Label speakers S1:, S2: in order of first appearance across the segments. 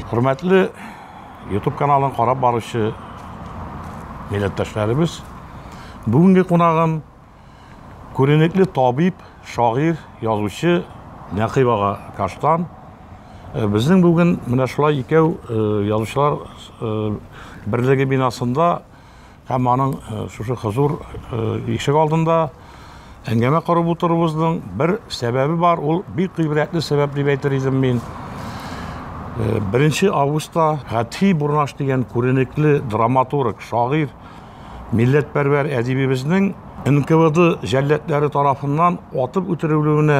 S1: Хөрмәтле YouTube каналын карап баручы милләттәшләребез, бүгенге кунагым Күренекле табиб, шагыйрь, язучы Нәкыйп ага Каштан. Э, безнең бүген менә шулай икәү э, язучылар э, берлеге бинасында һәм аның шушы хозур ишек алдында әңгәмә корып утыруыбызның бер сәбәбе бар, ул бик гыйбрәтле сәбәп дип әйтер идем мин. Беренче августта Хәтхи Бурнаш дигән күренекле драматург, шагыйрь Милләтпәрвәр әдибебезнең НКВД җәлләдләре тарафыннан атып үтерелүенә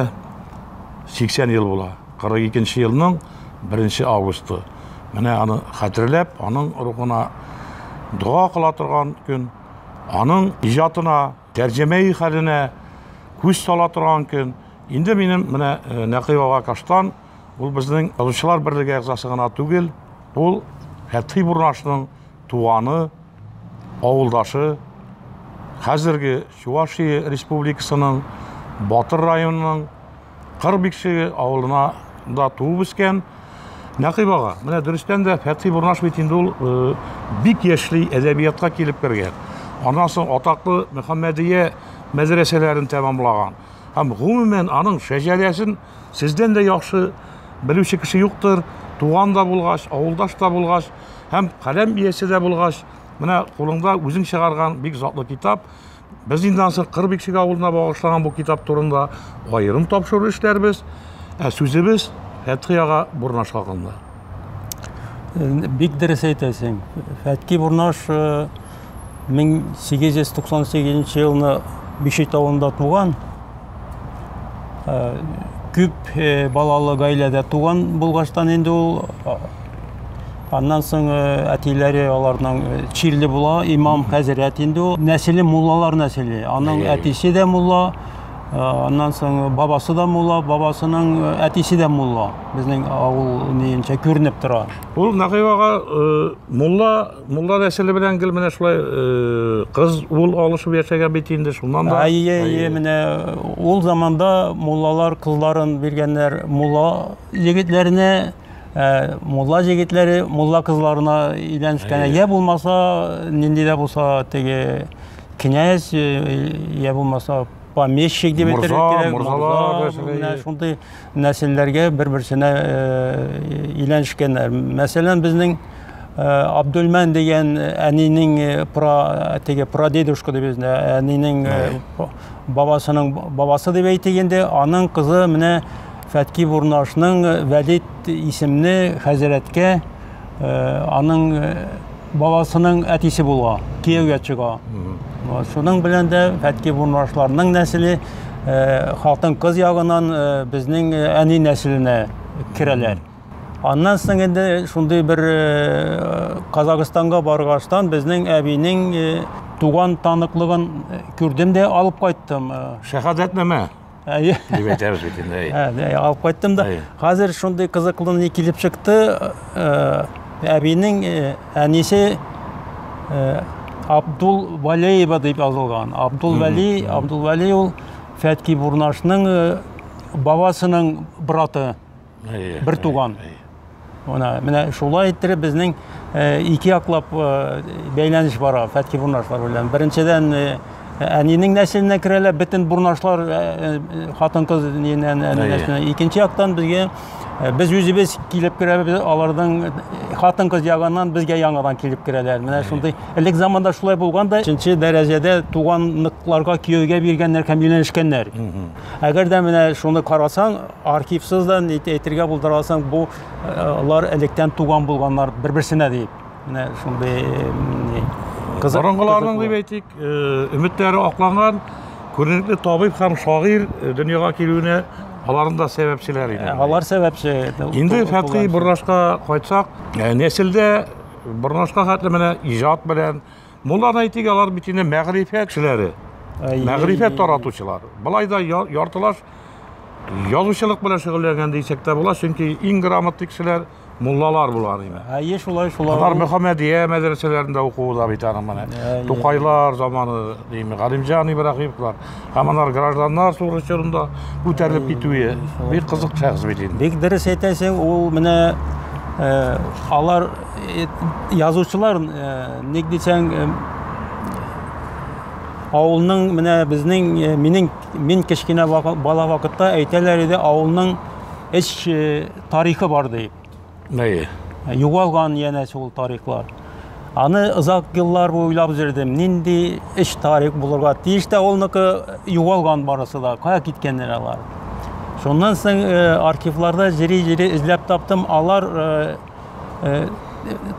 S1: 80 ел була. 42 нче елның 1 августы. Менә аны хәтерләп, аның рухына дога кыла торган көн, аның иҗатына, тәрҗемәи хәленә күз сала торган көн. Инде минем менә э, Нәкый ага Каштан, ул безнең Язучылар берлеге әгъзасы гына түгел, ул Фәтхи Бурнашның туганы, авылдашы, хәзерге Чувашия Республикасының Батыр районының Кыр Бикшеге авылына да туып үскән. Нәкыйб ага, менә дөрестән дә Фәтхи Бурнаш бит инде ул э, бик яшьли әдәбиятка килеп кергән. Аннан соң атаклы Мөхәммәдия мәдрәсәләрен тәмамлаган. Һәм гомумән аның шәҗәрәсен Сездән дә яхшы белүче кеше юктыр, туган да булгач, авылдаш та булгач, һәм каләм иясе дә булгач, менә кулыңда үзең чыгарган бик затлы китап. Без инде ансы Кырбикшик авылына багышланган бу китап турында аерым тапшыру эшләрбез. Ә сүзебез Фәтхи ага Бурнаш хакында.
S2: Бик дөрес әйтәсең. Фәтки Бурнаш 1898 э, елны Биши тавында туган. Э, күп э, балалы гаиләдә туган булгаштан инде ул аннан соң әтиләре аларның чирле була, имам хәзрәт инде ул. Нәселе муллалар нәселе. Аның әтисе дә мулла, Аннан соң бабасы да мулла, бабасының әтисе дә мулла. Безнең авыл нинчә күренеп тора. Ул Нагыйвага
S1: мулла, мулла нәселе белән гел менә шулай кыз ул алышып яшәгән бит инде шуннан да. Әйе, әйе, менә
S2: ул заманда муллалар кызларын биргәннәр мулла егетләренә Э, мулла җегетләре мулла кызларына өйләнешкән я булмаса нинди дә булса теге князь я булмаса помещик дип әйтергә морза шундый нәселләргә бер берсенә өйләнешкәннәр мәсәлән безнең абдулмән дигән әнинең про теге прадедушка дип безне әнинең бабасының бабасы дип әйтик инде аның кызы менә фәтки бурнашның вәлид исемле хәзрәткә аның баласының әтисе була, кияүгә чыга. Шуның белән дә Фәтки Бурнашларның нәселе э, хатын-кыз ягынан э, безнең э, әни нәселенә керәләр. Аннан соң инде шундый бер Казахстанга баргаштан безнең әбинең туган таныклыгын күрдем дә алып кайттым. Шәһадәтнамә.
S1: Әйе. Дип әйтәбез бит инде. Әйе. Алып кайттым да.
S2: Хәзер шундый кызыклы ни килеп чыкты. Әбинең әнисе Абдул Валеева дип язылган. Абдул Вали, Абдул Вали ул Фәтки Бурнашның бабасының браты. бер туган Ана, менә шулай иттереп безнең э, ике яклап э, бәйләнеш бара фәтки бурнашлар белән. Беренчедән э, әнинең нәселенә керәләр, бөтен бурнашлар хатын-кыз нәселенә. Икенче яктан безгә без үзебез килеп керәбез, аларның хатын-кыз ягыннан безгә яңадан килеп керәләр. Менә шундый элек заманда шулай булган да, өченче дәрәҗәдә туганлыкларга кияүгә биргәннәр һәм өйләнешкәннәр. Әгәр дә менә шуны карасаң, архивсыз да ник әйтергә булдыра алсаң, бу лар электән туган булганнар бер-берсенә дип. Менә шундый кызык. Борынгыларның
S1: дип әйтик, э, өметләре акланган күренекле табиб һәм шагыйрь э, дөньяга килүенә аларның да сәбәпчеләре иде. Алар сәбәпче.
S2: Инде Фәтхи
S1: Борнашка кайтсак, э, нәселдә Борнашка хәтле менә иҗат белән Моннан әйтик, алар бит инде мәгърифәт кешеләре, мәгърифәт таратучылар. Былай да яртылаш язучылык белән шөгыльләнгән дисәк тә була, чөнки иң грамотлы кешеләр муллалар булган иде. Әйе, шулай, шулай. Алар
S2: Мөхәммәдия
S1: мәдрәсәләрендә укуда бит аның менә. Тукайлар заманы, дими, Галимҗан Ибраһимовлар. Һәм анар гражданнар сугышы чорында күтәрелеп
S2: китүе
S1: бик
S2: кызык
S1: шәхес бит инде.
S2: Бик
S1: дөрес әйтәсең,
S2: ул
S1: менә э,
S2: алар э, язучылар э, ник дисәң э, авылның менә безнең э, минем мин кечкенә вакы- бала вакытта әйтәләр иде авылның эч э, тарихы бар дип. Әйе. Югалган янә шул тарихлар. Аны озак еллар буе уйлап йөрдем. Нинди эш тарих булырга тиеш тә улныкы югалган барысы да. Кая киткәннәр алар? Шуннан соң э, архивларда җири-җири эзләп таптым. Алар э, э,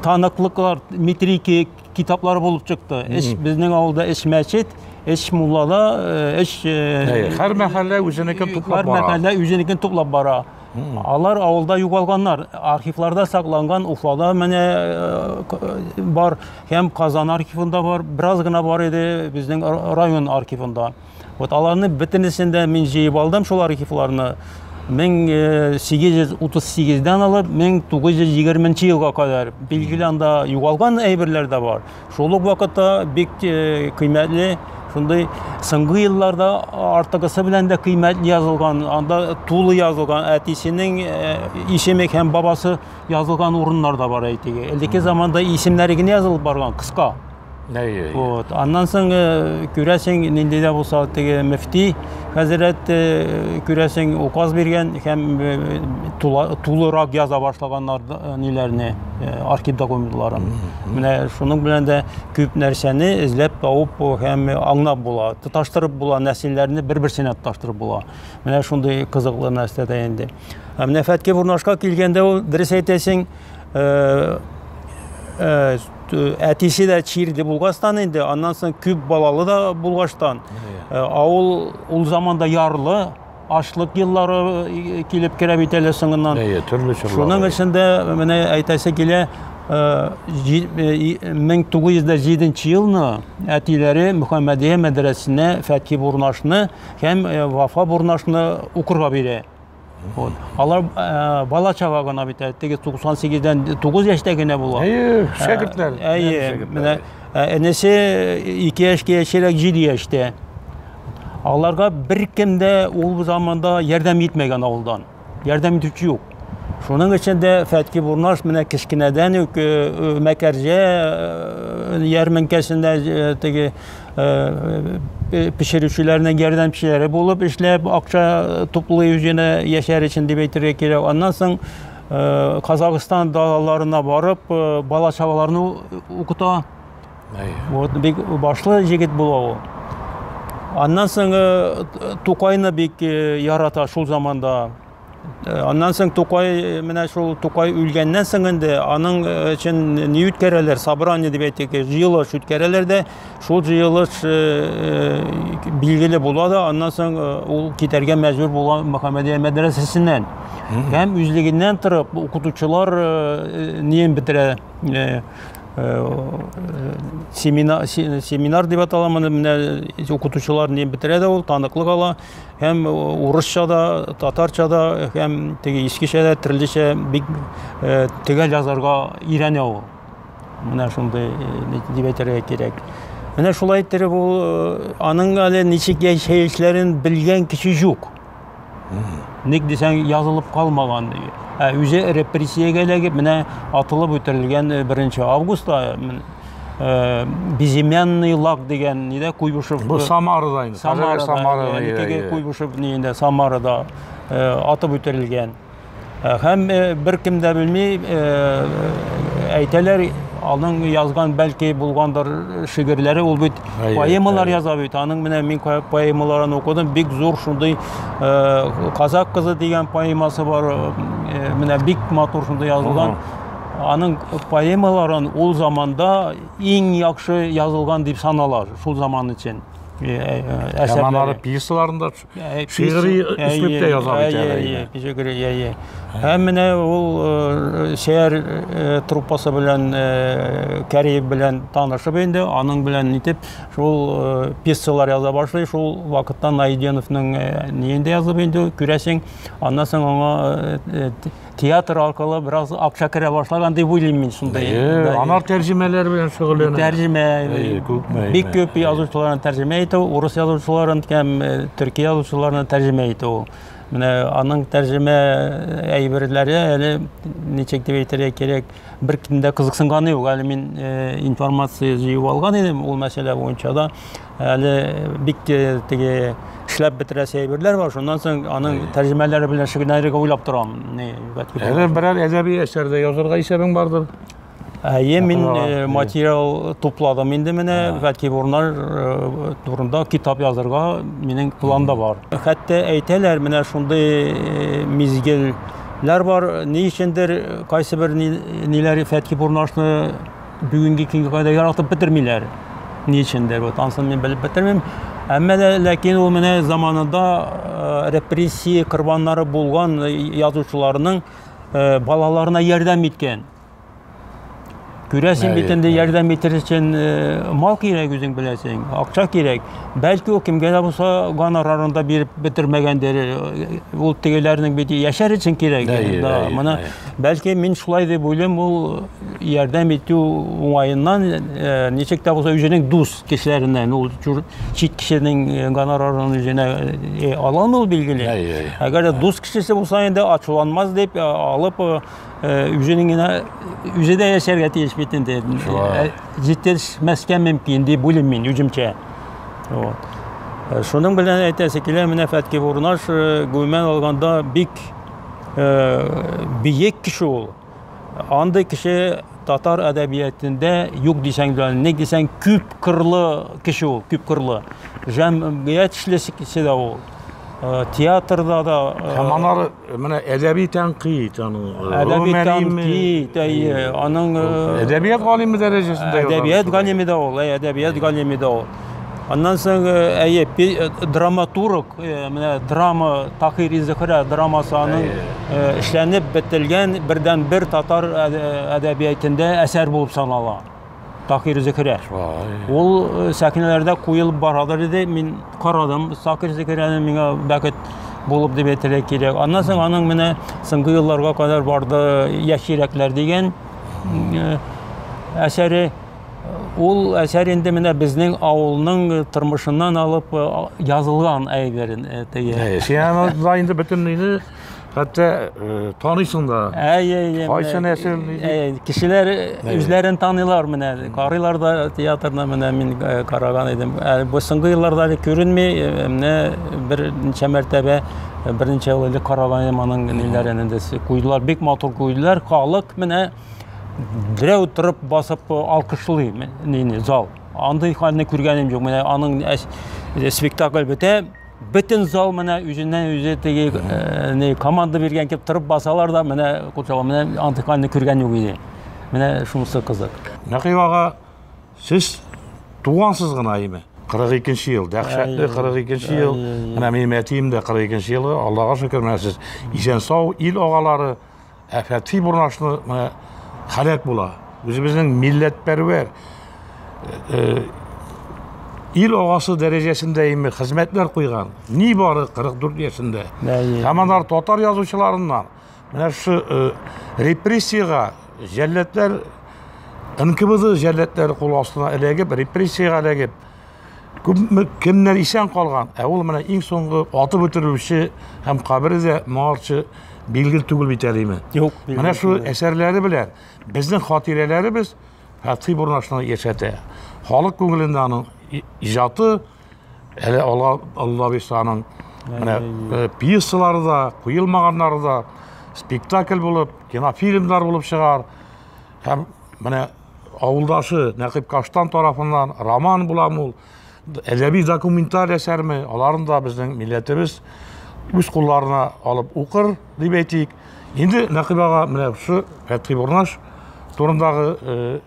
S2: таныклыклар метрики китаплары булып чыкты. Эш безнең авылда эш мәчет, эш муллада, э, эш э, Әйе. Һәр мәхәллә
S1: үзенекен туплап һәр бара. мәхәллә үзенекен туплап
S2: бара. Алар авылда югалганнар. Архивларда сакланган Уфада менә э, бар һәм Казан архивында бар, бераз гына бар иде безнең район архивында. Вот аларны бөтенесен дә мин җыеп алдым шул архивларны. 1838-дән э, алып 1920 елга кадәр билгеле анда югалган әйберләр дә бар. Шул ук вакытта бик кыйммәтле шундый соңгы елларда артыгысы белән дә кыйммәтле язылган, анда тулы язылган, әтисенең исеме һәм бабасы язылган урыннар да бар әйтик. Элекке заманда исемнәре генә язылып барган, кыска. Вот. Аннан соң күрәсең, нинди дә булса теге мөфти хәзрәт күрәсең указ биргән һәм тулырак яза башлаганнар ниләрне, архив документларын. Менә шуның белән дә күп нәрсәне эзләп табып һәм аңлап була. Тоташтырып була, нәсилләрне бер-берсенә тоташтырып була. Менә шундый кызыклы нәрсә дә инде. Ә менә Фәтке Бурнашка килгәндә ул дөрес әйтәсең, э, э, әтисе дә чирде булгастан инде, аннан соң күп балалы да булгаштан. Ә, авыл ул заманда ярлы, ашлык еллары э, килеп керә бит әле соңыннан. Әйе, төрле чорлар. Шуның өчен дә менә әйтәсе килә, 1907 э, э, елны әтиләре Мөхәммәдия мәдрәсенә Фәтхи Бурнашны һәм Вафа Бурнашны укырга бирә. Вот. Алар ә, бала чага гына бит, теге 98-дән 9 яшьтә генә була. Әйе, шәкертләр.
S1: Әйе, менә
S2: энесе 2 яшькә яшерәк 7 яшьтә. Аларга беркем дә ул заманда ярдәм итмәгән авылдан. Ярдәм итүче юк. Шуның өчен дә Фәтки Бурнаш менә кечкенәдән үк э, э, Мәкәрҗә э, ярминкәсендә теге пешерүчеләрнең ярдәмчеләре булып эшләп, акча туплый үзенә яшәр өчен дип әйтергә кирәк. Аннан соң Казахстан далаларына барып, бала чагаларны укыта. Вот бик башлы җегет була ул. Аннан соң э, Тукайны бик э, ярата шул заманда. Э, аннан соң Тукай менә шул Тукай үлгәннән соң инде аның өчен ни үткәрәләр? Собрание дип әйтик, җыелыш үткәрәләр дә, шул җыелыш билгеле була да, аннан соң ул китәргә мәҗбүр була Мөхәммәдия мәдрәсәсеннән. Һәм үзлегеннән торып укытучылар неен бетерә, семинар, семинар дип атала моны менә укытучылар не бетерә дә ул таныклык ала һәм урысча да татарча да һәм теге искечә дә төрлечә бик төгәл язарга өйрәнә ул менә шундый дип әйтергә кирәк менә шулай иттереп ул аның әле ничек яшәешләрен белгән кеше юк Ник дисәң, язылып калмаган. Ә үзе репрессиягә эләгеп, менә атылып үтерелгән 1 августта Э, безымянный лак дигән нидә куйбышев бу самарада инде
S1: самарада самарада
S2: самарада э, атып үтерелгән Һәм бер кем дә белми, әйтәләр, аның язган бәлки булгандыр шигырьләре ул бит поэмалар яза бит аның менә мин поэмаларын укыдым бик зур шундый казак кызы дигән поэмасы бар менә бик матур шундый язылган аның поэмаларын ул заманда иң яхшы язылган дип санала шул заман өчен
S1: әсәрләре пьесаларын да Шигъри өслүптә яза бит әле. Шигъри, әйе. Һәм менә
S2: ул э, шәһәр э, труппасы белән э, Кәриев белән танышып инде, аның белән нитеп шул пьесалар яза башлый, шул вакытта Найденовның ниендә язып инде, күрәсең, аннан соң аңа театр аркылы бераз акча керә башлаган дип уйлыйм мин шунда. Әйе, анар тәрҗемәләр
S1: белән шөгыльләнә. Тәрҗемә. Әйе,
S2: күпме. Бик күп язучыларны тәрҗемә итә, урыс язучыларын һәм э, төрки язучыларны тәрҗемә итә ул. Менә аның тәрҗемә э, әйберләре әле ничек дип әйтергә кирәк, бер кемдә кызыксынганы юк. Әле мин э, информация җыеп алган идем ул мәсьәлә буенча да. Әле бик теге эшләп бетерәсе әйберләр бар, шуннан соң аның тәрҗемәләре белән шөгыльләнергә уйлап торам. Ни, Әле
S1: берәр әдәби әсәр дә язырга исәбең бардыр. Әйе, мин
S2: э, материал тупладым инде менә, бәлки урыннар э, турында китап язырга минем планда бар. Хәтта әйтәләр, менә шундый э, мизгелләр бар, ни өчендер кайсы бер ниләр Фәтки Бурнашны Бүгенге көнгә кадәр яратып бетермиләр. Ни өчендер, вот анысын мин белеп бетермим. Әмма дә ләкин ул менә заманында э, репрессия корбаннары булган э, язучыларның э, балаларына ярдәм иткән. Күрәсең бит инде ярдәм итер өчен мал кирәк үзең беләсең, акча кирәк. Бәлки ул кемгә дә булса гонорарын да биреп бетермәгәндер. Ул тегеләрнең бит яшәр өчен кирәк. Да, мына бәлки мин шулай дип уйлыйм, ул ярдәм итү уңаеннан э, ничек тә булса үзенең дус кешеләреннән ул чит кешенең э, гонорарын үзенә э, ала алмый ул билгеле әгәр дә дус кешесе булса инде ачуланмас дип алып үзенең генә үзе дә яшәргә тиеш бит инде җитешмәскә мөмкин дип уйлыйм мин үземчә вот шуның белән әйтәсе килә менә фәтки бурнаш гомумән алганда бик биек кеше ул Андый кеше татар әдәбиятендә юк дисәң дә, ник дисәң, күп кырлы кеше ул, күп кырлы. Җәмгыять эшлесе дә ул. Э, театрда да э, һәм анар
S1: менә әдәби тәнкыйть аның әдәби
S2: тәнкыйть әйе аның әдәбият
S1: галиме дәрәҗәсендә әдәбият галиме дә
S2: ул әдәбият галиме дә ул Аннан соң, әйе, драматург, менә драма, Тахири Зөхрә драмасы аның эшләнеп бетелгән бердән бер татар әдәбиятендә әсәр булып санала. Тахири Зөхрә. Ул сәхнәләрдә куелып барадыр иде. Мин карадым, Тахири Зөхрәне миңа бәхет булып дип әйтергә кирәк. Аннан соң аның менә соңгы елларга кадәр барды Яшь йөрәкләр дигән әсәре. Ул әсәр инде менә безнең авылның тормышыннан алып язылган әйберен теге. Сианада инде
S1: бөтенләйне хәтта таныйсың да. Әй, әй, әй. Кайсы нәсел? Кешеләр
S2: үзләрен таныйлар менә. Карыйлар да театрны менә мин караган идем. Бу соңгы елларда әле күренми, менә берничә мәртәбә берничә еллык караган идем аның ниләрен инде. Куйдылар, бик матур куйдылар. Халык менә Берәү торып басып алкышлый нини зал. Андый хәлне күргәнем юк. Менә аның э, спектакль бетә, бөтен зал менә үзеннән үзе теге э, не команда биргән кеп торып басалар да менә курчага менә антыканны күргән юк иде. Менә шунысы кызык. Нәкый ага,
S1: сез тугансыз гына име? 42-нче ел, дәһшәтле 42-нче ел. Менә минем әтием дә 42-нче елы, Аллага шөкер, менә сез исән сау, ил агалары. Әфәти бурнашны менә халәт була. Үзебезнең милләтпәрвәр э, ил агасы дәрәҗәсендә име хезмәтләр куйган. Ни бары 44 яшендә. Һәм анар татар язучыларыннан менә шу э, репрессиягә җәлләтләр НКВД җәлләтләре кул астына эләгеп, репрессиягә эләгеп, Күпме кемнәр исән калган, ә ул менә иң соңгы атып үтерүче һәм кабере дә моңарчы билгел түгел бит әлеме? Юк. Менә шул
S2: әсәрләре
S1: белән безнең хатирәләребез Фәтхи Бурнашны яшәтә. Халык күңелендә аның иҗаты әле Алла Алла Бисаның менә э, пьесалары да, куелмаганнары да спектакль булып, кинофильмнар булып чыгар. Һәм менә Авылдашы Нәкыйп Каштан тарафыннан роман буламы ул, әдәби документаль әсәрме, аларын да безнең милләтебез үз кулларына алып укыр, дип әйтик. Инде Нәкыйп ага менә шушы Фәтхи Бурнаш турындагы э,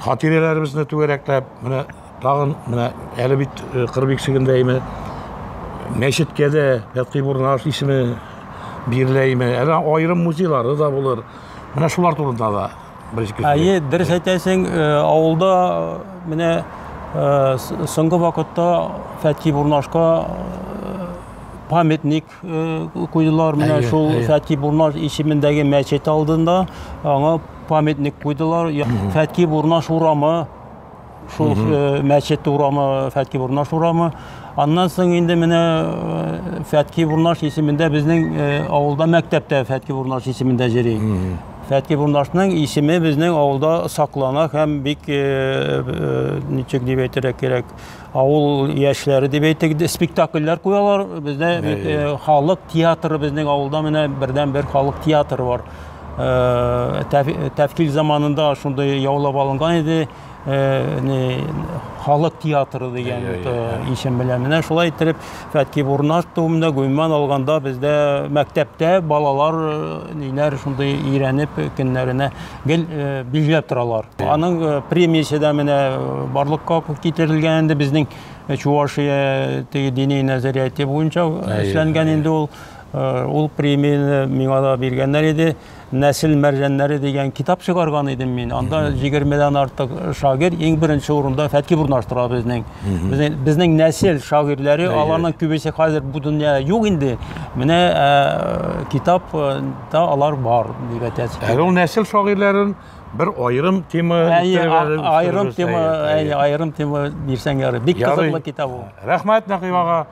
S1: хатирәләребезне түгәрәкләп, менә тагын менә әле бит э, кыр биксегендәйме, мәчеткә дә Фәтхи Бурнаш исеме биреләйме, әле аерым музейлары да булыр. Менә шулар турында да Әйе, дөрес
S2: әйтәсең, э, авылда э, менә э, соңгы вакытта Фәтки Бурнашка памятник куйдылар менә шул Фәтки Бурнаш исемендәге мәчет алдында аңа памятник куйдылар. Фәтки Бурнаш урамы шул мәчет урамы фәтки бурнаш урамы аннан соң инде менә фәтки бурнаш исемендә безнең авылда мәктәп тә фәтки бурнаш исемендә йөри фәтки бурнашның исеме безнең авылда саклана һәм бик ничек дип әйтергә кирәк авыл яшьләре дип әйтик спектакльләр куялар бездә халык театры безнең авылда менә бердән бер халык театры бар тәфкил заманында шундый яулап алынган иде халык театры дигән исем белән менә шулай иттереп фәтки бурнаш туында гомумән алганда бездә мәктәптә балалар ниләр шундый өйрәнеп көннәренә гел билгеләп торалар аның премиясе дә менә барлыкка китерелгән инде безнең чувашия теге дини нәзәрияте буенча эшләнгән инде ул ул премияне миңа да биргәннәр иде Нәсел мәрҗәннәре дигән китап чыгарган идем мин. Анда 20-дән артык шагыйрь иң беренче урында Фәткип урнаштыра безнең. Безнең, безнең нәсел шагыйрьләре, аларның күбесе хәзер бу дөньяда юк инде. Менә ә, китап да алар бар, дип әйтәсе. Әле ул нәсел шагыйрьләрен
S1: бер аерым тема аерым тема,
S2: аерым тема бирсәң ярый. Бик кызыклы
S1: китап ул.
S2: Рәхмәт Нәкыйбага.